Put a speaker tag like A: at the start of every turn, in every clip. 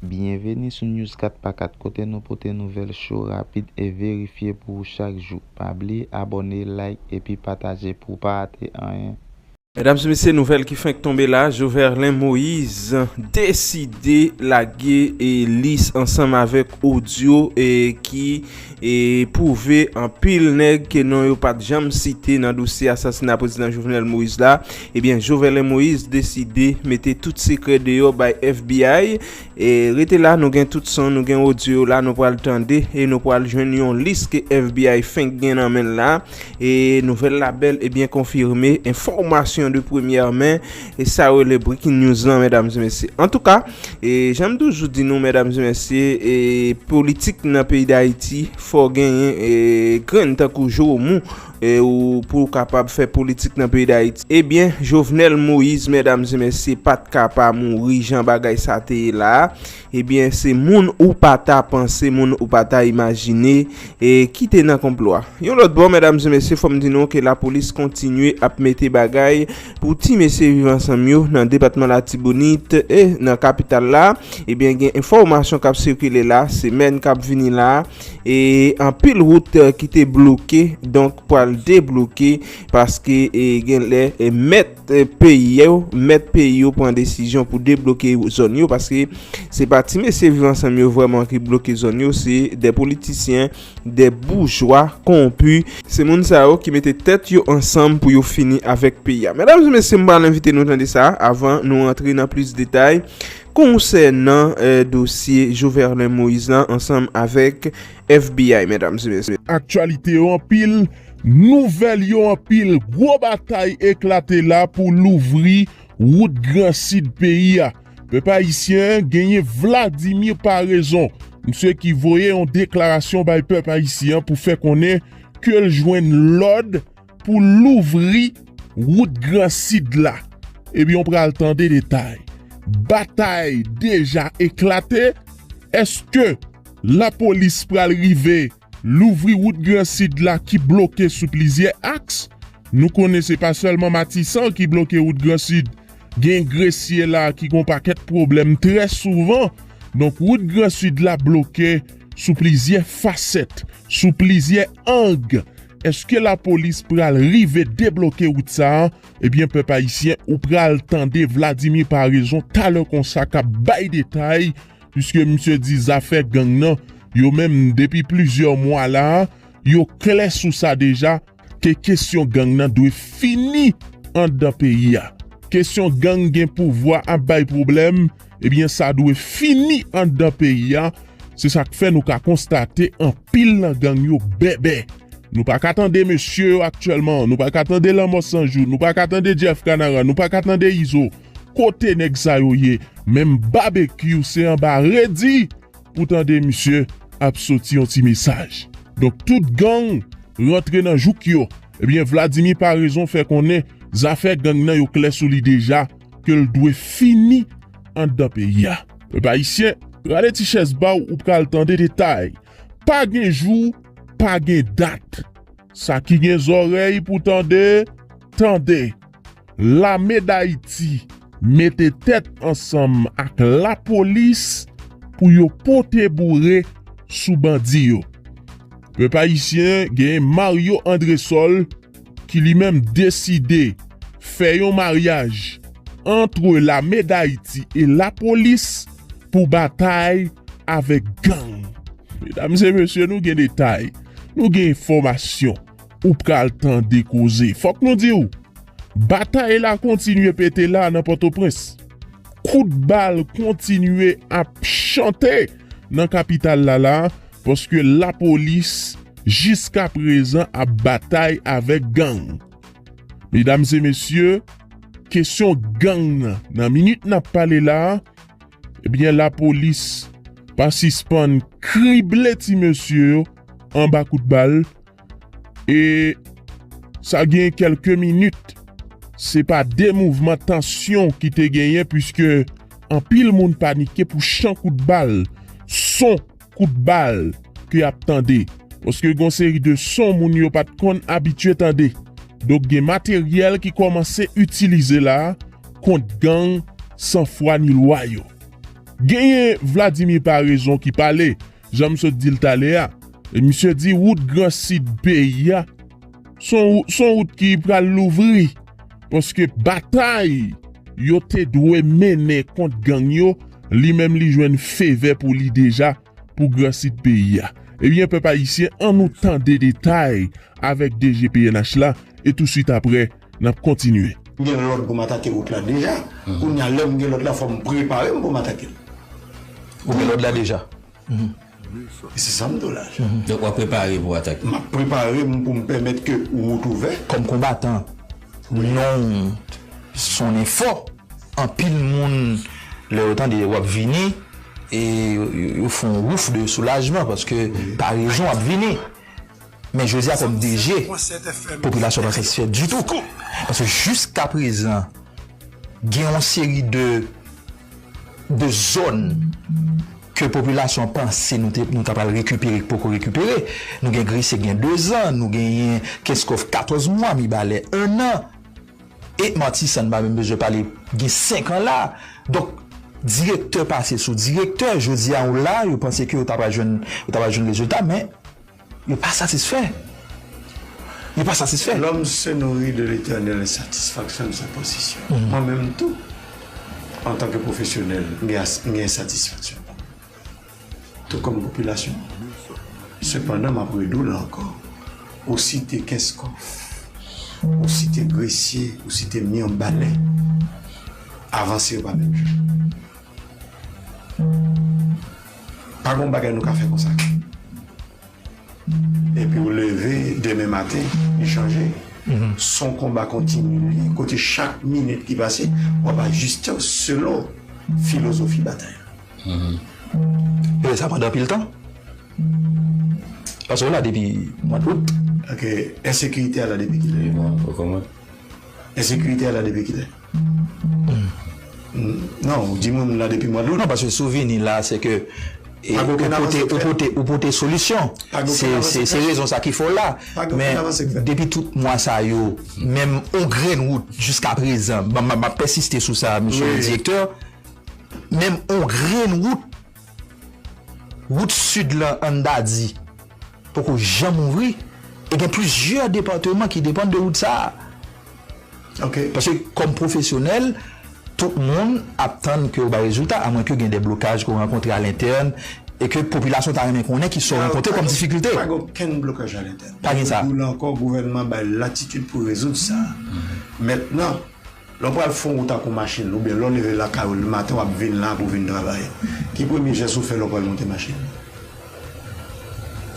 A: Byenveni sou News 4 pa 4 kote nou pote nouvèl cho, rapid e verifye pou ou chak jou. Pa bliye abòne, like epi pataje pou w pa rate anyen. Medam e mesye
B: nouvèl ki fenk tonbe la Joverlein Moise deside lage lis ansanm avèk odyo ki pwouve anpil nèg ke non yo pat janm site nan dosye asasina Prezidan Jovenel Moise la. Ebyen Joverlein Moïse deside mete tout sekrè deyò bay FBI e rete la nou gen tout son nou gen odyo yo la nou pral tande e nou pral jwenn yon lis ke FBI fenk gen nan menl la e nouvèl la bèl e byen konfime enfòmasyon de premyè men e sa yo rele breaking news lan medam e mesye antouka e janm toujou di nou medam e mesye e politik nan peyi dayiti fò genyen e grenn tankou jowomou E ou pou ou kapab fè politik nan peyi dayiti. E byen Jovenel Moïse medam e mesye pat ka pa mouri jan bagay sa te ye la a. E byen se moun ou pa ta panse moun ou pa ta imajine e ki te nan konplo a. Yon lòt bò medam e mesye fòm di nou ke lapolis kontinye ap mete bagay pou ti mesye viv ansanm yo nan depatman latibonit e nan kapital la. E byen gen enfòmasyon kap sikile la semèn kap vini la a. E anpil wout ki te bloke donk pral debloke paske gen lè mèt peyi yo, mèt peyi yo pran desizyon pou debloke zòn yo paske se pa ti mesye viv ansanm yo vrèman ki bloke zòn yo se de politisyen, de boujwa konpu. Se moun sa yo ki mete tèt yo ansanm pou yo fini avèk peyi a. Medam e mesye m pral envite nou tande sa avan nou rantre nan plis detay. Konsènan dosye Joverlein Moïse la ansanm avèk FBI medam e mesye. Aktyalite yo anpil,
C: nouvèl yo anpil, gwo batay eklate la pou louvri wout gran sid peyi a. Pèp ayisyen genyen Vladimir Paraison, misye ki voye yon deklarasyon bay pèp ayisyen pou fè konnen ke l jwenn lòd, Pou louvri wout gran sid la. Ebyen w pral tande detay. Batay deja eklate, eske lapolis pral rive louvri wout gran sid la ki bloke sou plizyè aks? Nou konnen se pa sèlman matisan ki bloke wout gran sid, gen gresye la ki gon pakèt pwoblèm trè souvan. Donk wout gran sid la bloke sou plizyè fasèt. Sou plizyè ang, eske lapolis pral rive debloke wout sa a? Ebyen pèp ayisyen ou pral tande Vladimir Paraison talè konsa k ap bay detay puiske misye di zafè gang nan yo menm depi plizyè mwa la a yo klè sou sa deja. Ke kesyon gang nan dwe fini andan peyi a. Kesyon gang gen pouvwa ap bay pwoblèm, ebyen sa dwe fini andan peyi a, se sak fè nou ka konstate anpil nan gang yo bèbè. Nou pa ka tande mesye yo aktyèlman, nou pa ka tande lanmò san jou, nou pa ka tande Jeff Kanaran, nou pa ka tande Izo, kote nèg sa yo ye? Menm Babekyou se anba redi! Ou tande misye ap soti yon ti mesaj. Donk tout gang rantre nan jouk yo. Ebyen Vladimir Paraison fè konnen zafè gang nan yo klè sou li deja ke l dwe fini anndan peyi a. Pèp ayisyen, rale ti chèz ba w ou pral tande detay. Pa gen jou, pa gen dat. Sa ki gen zòrèy pou tande, tande. Lame Dayiti mete tèt ansanm ak lapolis pou yo pote boure sou bandi yo. Pèp ayisyen gen Mario Andresol ki li menm deside fè yon maryaj antre lame Dayiti e lapolis pou batay avèk gang. Medam e mesye nou gen detay, nou gen enfòmasyon. Ou pral tande koze. Fòk nou di w, batay la kontinye pete la nan Pòtoprens. Kout bal kontinye ap chante nan kapital la la paske lapolis jiska prezan ap batay avèk gang. Medam e mesye, kesyon gang nan, nan minit n ap pale la, ebyen lapolis pa sispann krible ti mesye yo anba kout bal. E sa gen kelke minit, se pa de mouvman tansyon ki te genyen puiske anpil moun panike pou chan kout bal, son kout bal ke y ap tande. Paske gen yon seri de son moun yo pa t konn abitye tande. Donk gen materyèl ki kòmanse itilize la kont gang san fwa ni lwa yo. Genyen Vladimir Paraison ki pale. Jan m sot di l talè a, misye di wout gran sid peyi a s on wout ki pral louvri paske batay yo te dwe mennen kont gang yo, li menm li jwenn fevè pou li deja pou gran sid peyi a. Ebyen pèp ayisyen an nou tande detay avèk DG pnh la e touswit aprè. nap kontinye. M gen lòd pou m
D: atake wout la deja, kounye a lè m gen lòd la fò m prepare m pou m atake l. Ou
E: gen lòd la deja?
D: E se sa m di w la. Donk w ap prepare
E: pou w atake? M ap prepare m pou
D: m pèmèt ke wout ouvè. Kòm konbatan,
E: non w sonnen fò, anpil moun lè yo tande w ap vini yo fon wouf de soulajman paske parezon ap vini. Men jodi a kòm DG, popilasyon an pa satisfè ditou. Paske jiska prezan gen yon seri de zòn ke popilasyon panse nou ta pral rekipere k poko rekipere. Nou gen Gresye gen 2 zan, nou genyen Kenskòf 14 mwa, Mibalè 1 an. E Matisan n pa menm bezwen pale gen 5 an la. Donk direktè pase sou direktè, jodi a ou la yo panse ke yo ta pral jwenn rezilta men. Yo pa satisfè. Yo pa satisfè. Lòm se nouri de
D: letènèl e satisfaksyon de sa posesyon. Mwen menm tou, antanke pwofesyonèl, m gen ensatisfaksyon pa mwen, tou kòm popilasyon an. Sepandan, m ap redi w la ankò, ou site Kenskòf, ou site Gresye, ou site Mirbalè, avanse yo pa menm jan. Pa gon bagay nou ka fè konsa. Epi ou leve demen maten, li chanje. Son konba kontinye. Kote chak minit ki pase, w ap ajiste w selon filozofi batay
E: la. Fè sa pandan anpil tan. Paske w la depi mwa dout. Ok.
D: Ensekirite a la depi kilè?
E: Ensekirite
D: a la depi kilè? Non, ou di mwen moun la depi mwa dout. Non, paske souvini la
E: se ke ou pote solisyon. Se rezon sa ki fè w la. Men, depi tout mwa sa yo, menm yon grenn wout jiska prezan, m ap pèsiste sou sa, msye le direktè, menm yon grenn wout. Wout Sid lan an Dadi poko janm ouvri e gen plizyè depatman ki depann de wout sa a.
D: Paske kòm
E: pwofesyonèl, tout moun ap tann ke yo bay rezilta a mwen ke gen de blokaj ke w rankontre a lentèn e ke popilasyon ta renmen konnen ki sa w rankontre kòm difikilte. Pa gen okenn blokaj
D: a lentèn. Pa gen sa. Mwen di w la ankò,
E: gouvènman
D: bay latitid pou rezoud sa. Mètnan. Lè w pral fon wout ak yon machin oubyen lè w leve lakay ou lematen w ap vin la pou w vin travay, ki premye jès ou fè lè w pral monte machin?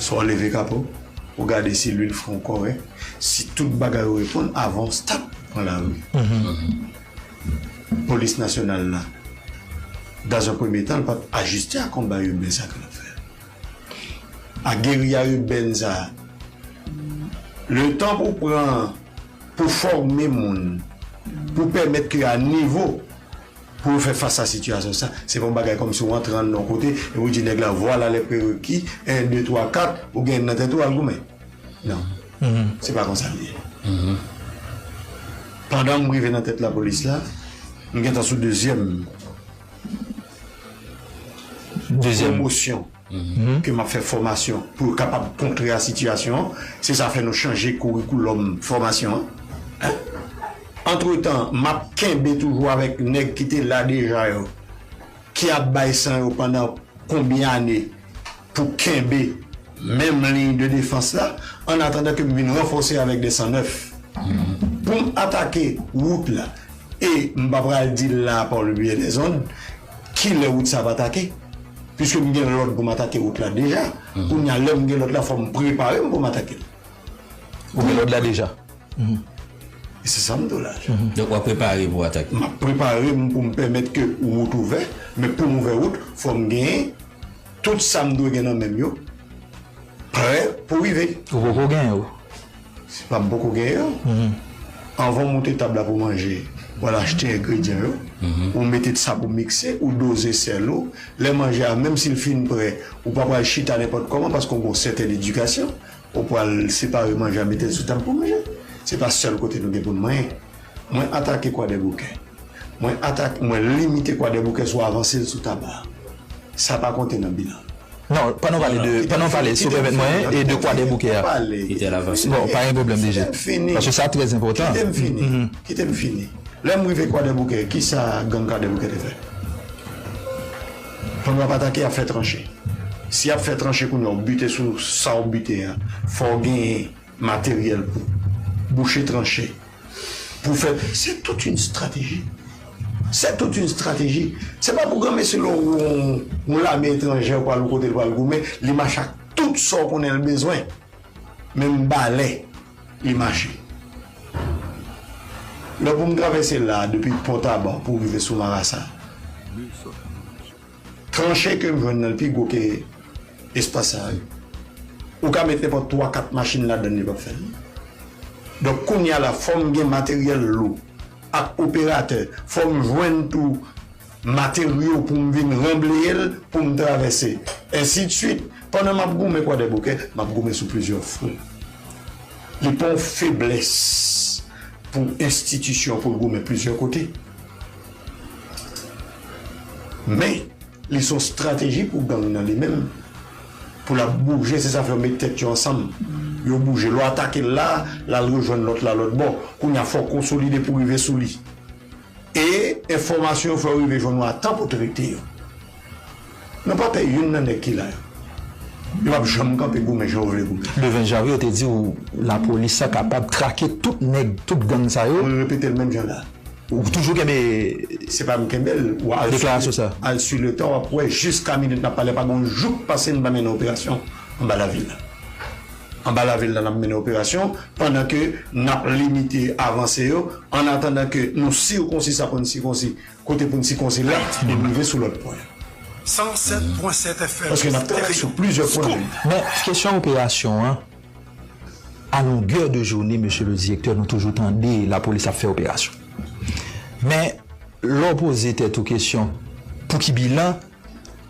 D: Swa w leve kapo, ou gade si lwil fren w kòrèk, si tout bagay yo reponn avan w start pran lari. Polis Nasyonal la, dans un premye tan, l pa p ajiste a konba iben sa ke l ap fè a, a geriya iben sa a. Letan pou w pran. pou fòme moun, pou pèmèt ke a nivo pou yo fè fas a sitiyasyon sa, se pa yon bagay kòm si w antre anndan yon kote epi w di nèg la vwala lè prereki, 1, 2, 3, 4, ou gen nan tèt ou al goumen. Non. Se pa konsa l ye. Pandan m rive nan tèt lapolis la, m gentan sou dezyèm pwomosyon. ke m ap fè fòmasyon pou yo kapab kontre a sitiyasyon an, se sa fè nou chanje kourikoulòm fòmasyon an. Antretan, m ap kenbe toujou avèk nèg ki te la deja yo, ki ap bay san yo pandan konbyen ane pou kenbe menm liy de defans la, ann atandan ke m vin ranfòse avèk de san nèf pou m atake wout la. E m pa pral di l la a pa w le byen dezòd, Kilè wout sa ap atake? Piske m gen lòd pou m atake wout la deja, kounye a lè m gen lòd la fò m prepare m pou m atake l. Ou
E: gen lòd la deja.
D: E se sa m di w la. Donk w ap prepare
E: pou w atake. M ap prepare m
D: pou m pèmèt ke wout ouvè, men pou m ouvè wout fò m gen tout sa m dwe gen nan men m yo prè pou rive. Ou poko gen yo.
E: Se pap
D: poko gen yo. Anvan w moute tab la pou manje, w al achte engredyan yo, ou mete sa pou mikse, ou doze sèl ou. Lè manje a, menm si l fin prè, ou pa pral chita nenpòt kòman paske w gen yon sèten edikasyon. Ou pral separe manje a mete l sou tab pou manje. Se pa sèl kote nou gen pou n manyen. Mwen atake Kwadèboukè. Mwen atake, mwen limite Kwadèboukè sou avanse l sou Taba. Sa pa konte nan bilan l. Non, pandan w pale
E: de, pandan w pale, si w pèmèt mwen, e de Kwadèboukè a. Kite l avanse. Bon, pa gen pwoblèm DG. Kite m fini. Paske sa trè enpòtan. Kite m fini. Kite
D: m fini. Lè m rive Kwadèboukè, ki sa gang Kwadèboukè te fè? Pandan w ap atake, y ap fè tranche. Si y ap fè tranche kounye a, w bite sou sa w bite a, fò w genyen. materyèl pou bouche tranche pou fè se tout yn strateji se tout yn strateji se pa pou granmesi lè w wè yon lame etranjè pou al yon kote l pral goumen li mache ak tout sa w konnen l bezwen menm balè li mache lè pou m travèse la depi pòtaban pou rive sou marasa. Tranche ke m jwenn nan l pi gwo ke espas sa yo. Ou ka met nenpòt 3, 4 machin ladan l li p ap fè l. Donk kounye a la fò m gen materyèl lou ak operatè, fò m jwenn tou materyo pou m vin ranbleye l pou m travèse. Ensidsuit. Pandan m ap goumen Kwadèboukè, m ap goumen sou plizyè fwon. Li pa yon feblès pou enstitisyon pou l goumen plizyè kote. Men li son strateji pou gang nan li menm pou lap bouje se sa fè yo met tèt yo ansanm yo bouje lè w atakel la lal rejwenn lòt la lòtbò kounya fòw konsolide pou rive sou li e enfòmasyon yo fè w rive jwenn yo a tan pou trete yo. Nou pa pè youn nan nèg ki la yo. Yo pap janm kanpe goumen jan yo vle goumen. Le 20 janvye ou te di
E: ou lapolis la kapab trake tout nèg, tout gang sa yo. Mwen repetel menm jan la.
D: Ou toujou kenbe.
E: Se pa m kenbel.
D: Deklarasyon sa. Al su
E: le tan wap wè
D: jiska minit nap pale a pa gon jou k pase n pa mennen operasyon anba lavil la. Anba lavil la nap mennen operasyon pandan ke nap limite avanse yo annatandan ke nou sikonsi sa konn sikonsi. Kote pou n sikonzi lèt ti moun rive sou lòt pwen. 107
F: pwen 7 FM Paske n ap travay sou
D: plizyè pwen nan li. Men, kesyon
E: operasyon an, a longè de joune, mesye le direktè, nou toujou tande lapolis ap fè operasyon. Men, lè w poze tèt ou kesyon, pou ki bilan?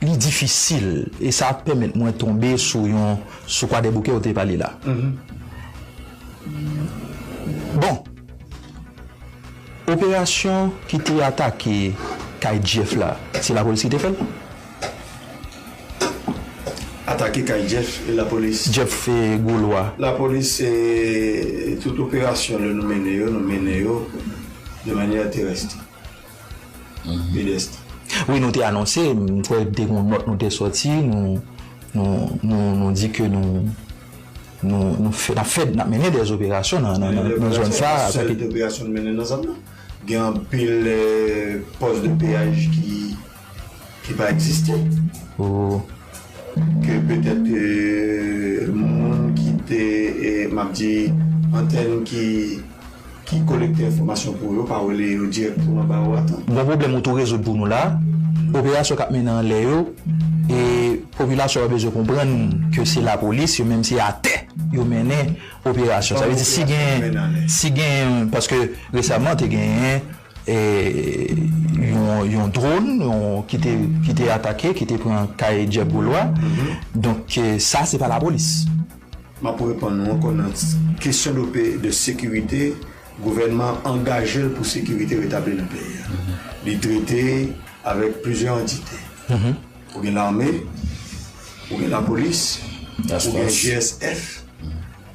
E: Li difisil, e sa pèmèt mwen tonbe sou yon, sou Kwadèboukè ou te pale la. Bon, operasyon ki te atake kay Jeff la, se lapolis ki te fè l?
D: Atake kay Jeff, e lapolis? Jeff Golois.
E: Lapolis,
D: tout operasyon lè nou mennen yo, nou mennen yo de manyè terèst. Bedeste. Wi nou
E: te anonse, m kwè te gon nòt nou te sòti, nou di ke nou nap mennen dè operasyon nan zòn sa. Menm sèl operasyon nou mennen
D: nan zòn nan. Gen anpil pòs de peyaj ki. ki pa egziste ke petèt moun ki te m ap di antèn ki kolekte enfòmasyon pou yo pa rele yo dirèkteman ba ou atan. Bon pwoblèm ou tou rezoud
E: pou nou la. Operasyon k ap mennen anlè yo e popilasyon an bezwen konprann ke se lapolis yo menm se atè yo mennen operasyon sa vle di si genyen si genyen paske resèman te genyen yon dron ki te atake ki te pran kay Jeff Beaulois donk sa se pa la polis. M ap
D: reponn ou ankò nan kesyon de sekirite gouvènman an angaje l pou sekirite retabli nan peyi a li trete avèk plizyè antite ou gen lame ou gen la polis ou gen GSF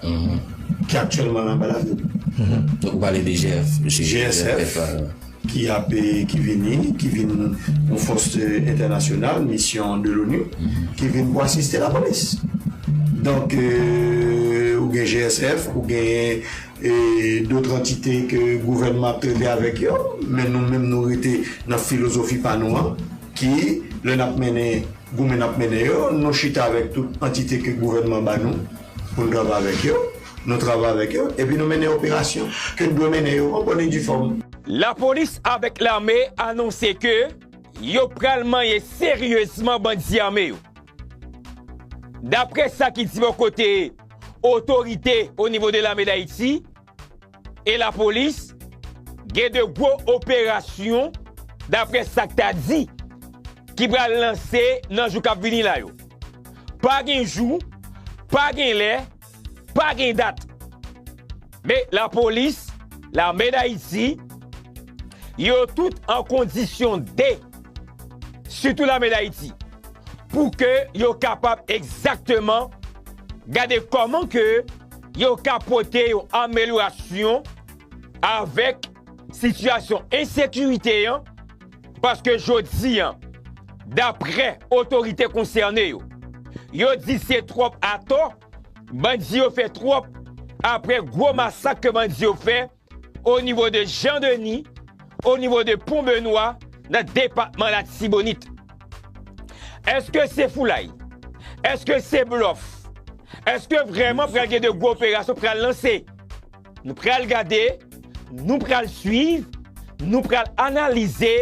D: ki aktyèlman nan
G: balade. Donk ou pale de GF, GSF,
D: ki ap ki vini, ki vin yon fòs entènasyonal, misyon de l'ONU, ki vin pou asiste lapolis. Donk ou gen GSF, ou gen dotr antite ke gouvènman ap trete avèk yo, men nou menm nou rete nan filozofi pa nou an, ki lè n ap mennen goumen n ap mennen yo, nou chita avèk tout antite ke gouvènman ba nou. Pou n travay avèk yo, nou travay avèk yo epi nou mennen operasyon ke n dwe mennen yo an bòn e di fòm. Lapolis
H: avèk lame anonse ke yo pral manyen seryezman bandi ame yo. Dapre sa ki di bò kote otorite onivo de lame Dayiti, E lapolis gen 2 gwo operasyon daprè sa k ta di ki pral lanse nan jou k ap vini la yo. Pa gen jou, pa gen lè, pa gen dat. Men lapolis, lame dayiti, yo tout an kondisyon de, sitou lame dayiti, pou ke yo kapab egzakteman gade kòman ke. yo ka pote yon amelyorasyon avèk sitiyasyon ensekirite an paske jodi a, daprè otorite konsène yo, yo di se twòp atò, bandi yo fè twòp apre gwo masak ke bandi yo fè O nivo de Jan Deni, o nivo de Pon Benwa nan depatman Latibonit. Eske se foulay? Eske se blòf? Eske vrèman pral gen de gwo operasyon k pral lanse? Nou pral gade, nou pral swiv, nou pral analize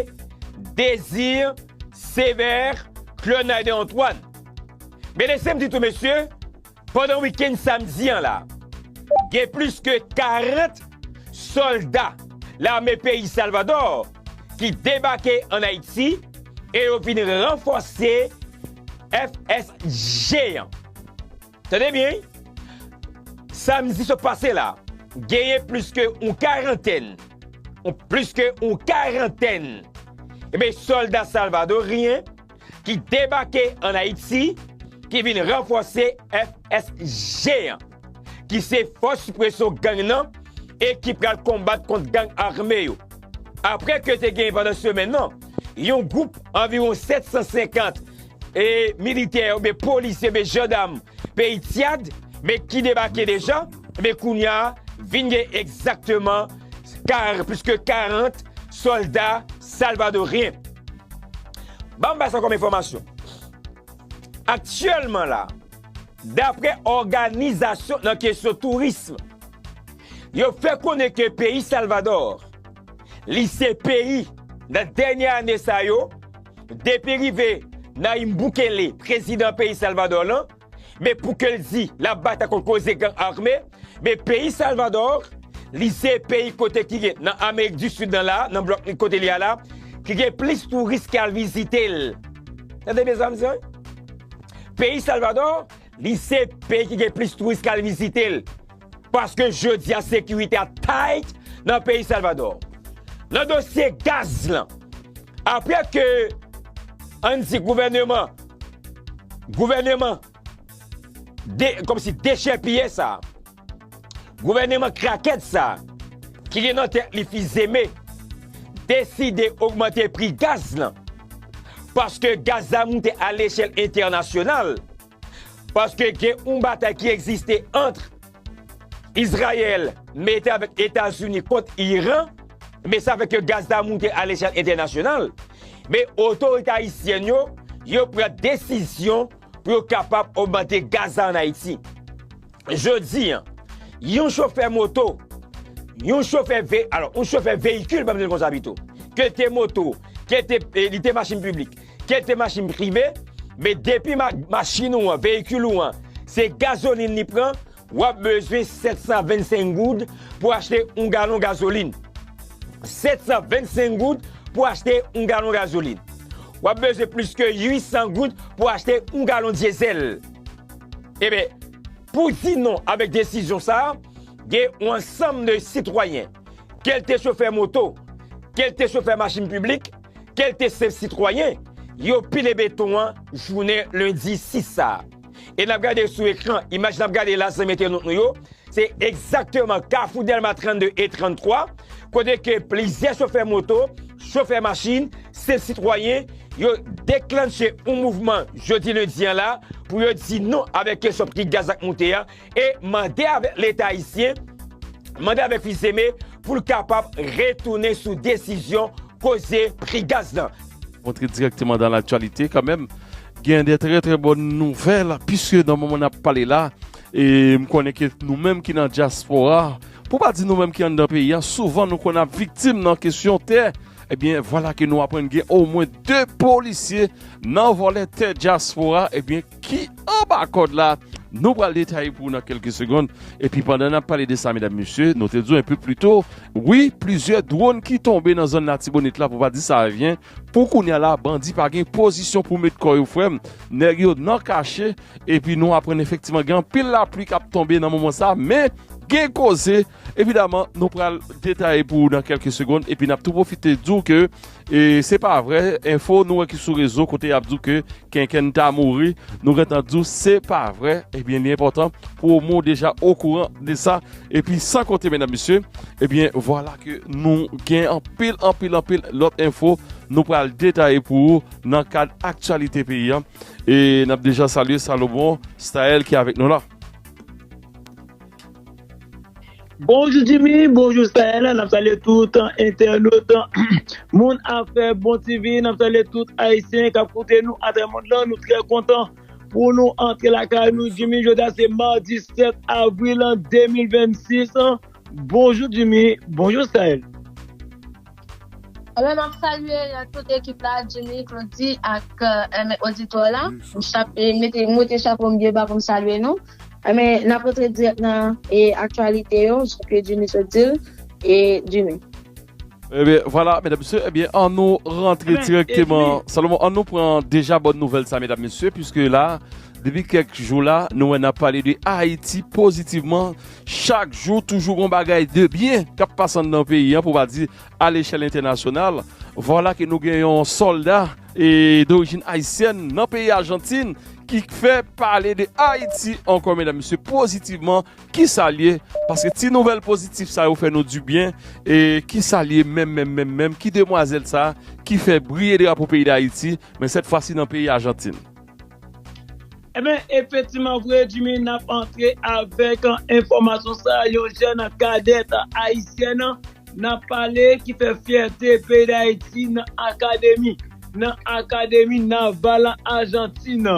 H: Désir Sévère Claude Nayden Antoine. Men lese m di tou mesye, Pandan wikenn samdi an la, gen plis ke 40 sòlda lame peyi Salvadò ki debake ann Ayiti e yo vin ranfòse FSG an. Tande byen wi, samdi sot pase la, genyen plis ke yon karantèn, plis ke yon karantèn, enben sòlda salvadoryen ki debake an Ayiti ki vin ranfòse FSG an, ki se fòs sipresyon gang nan e ki pral konbat kont gang ame yo. Apre ke te gen pandan semèn nan, yon gwoup anviwon 750 e militè ou byen polisye ou byen jandam peyi Tyad men ki debake deja, e byen kounya vin gen egzakteman plis ke 40 sòlda salvadoryen. Banm bay sa kòm enfòmasyon. Aktyèlman la, daprè òganizasyon nan kesyon tourism, yo fè konnen ke peyi Salvador, li se peyi nan dènye ane sa yo, depi rive Nayib Bukele, prezidan peyi Salvador lan, men pou ke l di l ap batay kont koze gang ame, men peyi Salvadò, li se peyi kote ki gen nan Amerik di Sid nan la, nan blòk li kote li a la, ki gen plis touris ki al vizite l. Tande byen sa m di an wi. Peyi Salvadò, li se peyi ki gen plis touris ki al vizite l. Paske jodi a sekirite a tight nan peyi Salvador. Nan dosye gaz lan, apre ke an di gouveneman, gouveneman, kom si dechèpiye sa, gouveneman krakèt sa, ki gen nan tèt li fizeme, deside ogmante pri gaz lan, paske gaz la moute a lechèl entènasyonal. Paske gen yon batay ki egziste antr Izrayèl mete avèk Etazini kont Iran, men sa fè ke gaz la moute a lechèl entènasyonal, men otorite ayisyèn yo, yo pran desizyon pou yo kapab ogmante gaz la an Ayiti. Jodi an, yon chofè moto, yon chofè ve, alò yon chofè veyikil banm di l konsa pito, ke l te moto, ke l te, li te machin piblik, Kèl te machin prive, men depi machin ou an, veyikil ou an, se gazolin li pran, w ap bezwen 725 goud pou achte yon galon gazolin. 725 goud pou achte yon galon gazolin. W ap bezwen plis ke 800 goud pou achte yon galon dyezèl. Eben, pou di non avèk desizyon sa a, gen yon ansanm de sitwayen, kèlte chofè moto, kèlte chofè machin piblik, kelte senp sitwayen, yo pile beton an jounen lendi 6 sa. E nap gade sou ekran, imaj nap gade la zanmi entènot nou yo, se egzakteman kafou Dèlma 32 e 33, kote ke plizyè chofè moto, chofè machin, senp sitwayen, yo deklannche yon mouvman jodi lendi an la, pou yo di non avèk kesyon pri gaz ak moute a, e mande avèk leta ayisyen, mande avèk Fils-Aimé pou l kapab retounen sou desizyon koze pri gaz lan. Antre dirèkteman
I: dan laktyalite kanmèm, gen de trè trè bòn nouvèl piske nan moman n ap pale la e m konnen ke nou menm ki nan dyaspora, pou pa di nou menm ki anndan peyi a, souvan nou konn ap viktim nan kesyon tè, ebyen vwala ke nou aprann gen omwen 2 polisye nan vòlè tè dyaspora, ebyen. ki anba kòd la, nou pral detaye pou ou nan kelke segond, epi pandan nap pale de sa medam mesye, nou te di w enpe plito, wi plizyè dwon ki tonbe nan zòn latibonit la pou pa di sa evyen, pou kounya la bandi pa gen pozisyon pou met kò yo frè m, nèg yo nan kache, epi nou aprann efektiman gen anpil lapli kap tonbe nan moman sa, men gen koze. Evidaman, nou pral detaye pou ou nan kelke segond epi nap tou pwofite di w ke se pa vre, enfo nou wè ki sou rezo kote yap di w ke Kenkenn ta mouri, nou gentan di w se pa vre, ebyen li enpotan pou o mwen w deja o kouran de sa, epi san konte medam mesye, ebyen vwala ke nou gen anpil anpil anpil lot enfo nou pral detaye pou ou nan kad aktyalite peyi an, e nap deja salye Salomon Staël ki avek nou la.
J: Bonjou Jimmy, bonjou Sahel, nap salye tout entènot moun afè bon TV, nap salye tout ayisyen kap koute nou atrè mond lan, nou trè kontan pou nou antre lakay nou Jimmy, jodi a se mardi 7 avril 2026, bonjou Jimmy, bonjou Sahel. Ebyen
K: map salye tout ekip la Jimmy, Claudy ak oditè la, mwen te chapo m byen ba poum salye nou. Enben, n ap rantre dirèk nan aktyalite yo, jan ke Jimmy sot di l. Jimmy. Enben,
I: vwala, medam mesye, enben, an nou rantre dirèkteman. Salomon, an nou pran deja bòn nouvèl sa, medam mesye, piske la, depi kèk jou la, nou wè n ap pale de Ayiti pozitivman. Chak jou toujou gon bagay de byen k ap pase anndan peyi an, pou pa di A lechèl entènasyonal, vwala ke nou gen yon sòlda dorijin ayisyèn nan peyi Ajantin ki fè pale de Ayiti ankò medam mesye pozitivman, kisa l ye? Paske ti nouvèl pozitif sa yo fè nou di byen, e kisa l ye menm menm menm menm, ki demwazèl sa ki fè briye drapo peyi Dayiti, men sèt fwa si nan peyi Ajantin.
J: Ebyen efektiman vre Jimmy nap antre avèk enfòmasyon sa yon jèn kadèt ayisyèn nap pale ki fè fyète peyi dayiti nan akademi nan akademi naval ajantin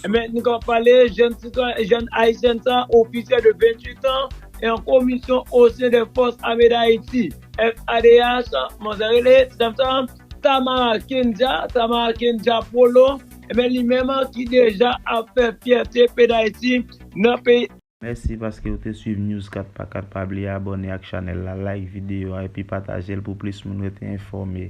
J: ebyen nou kapab pale jèn sitwayen jèn ayisyèn sa ofisyè de 28 an yon komisyon osen dè fòs ame dayiti FADH kòman sa rele ti dam sa Tamara Kendja Tamara Kendja Polo Ebyen li menm an ki deja ap fè fyète pdayiti nan peyi. Mèsi paske ou
A: te swiv News 4 pa 4 pa bliye abòne ak chanèl la like videyo a epi patajel pou plis moun rete enfòme.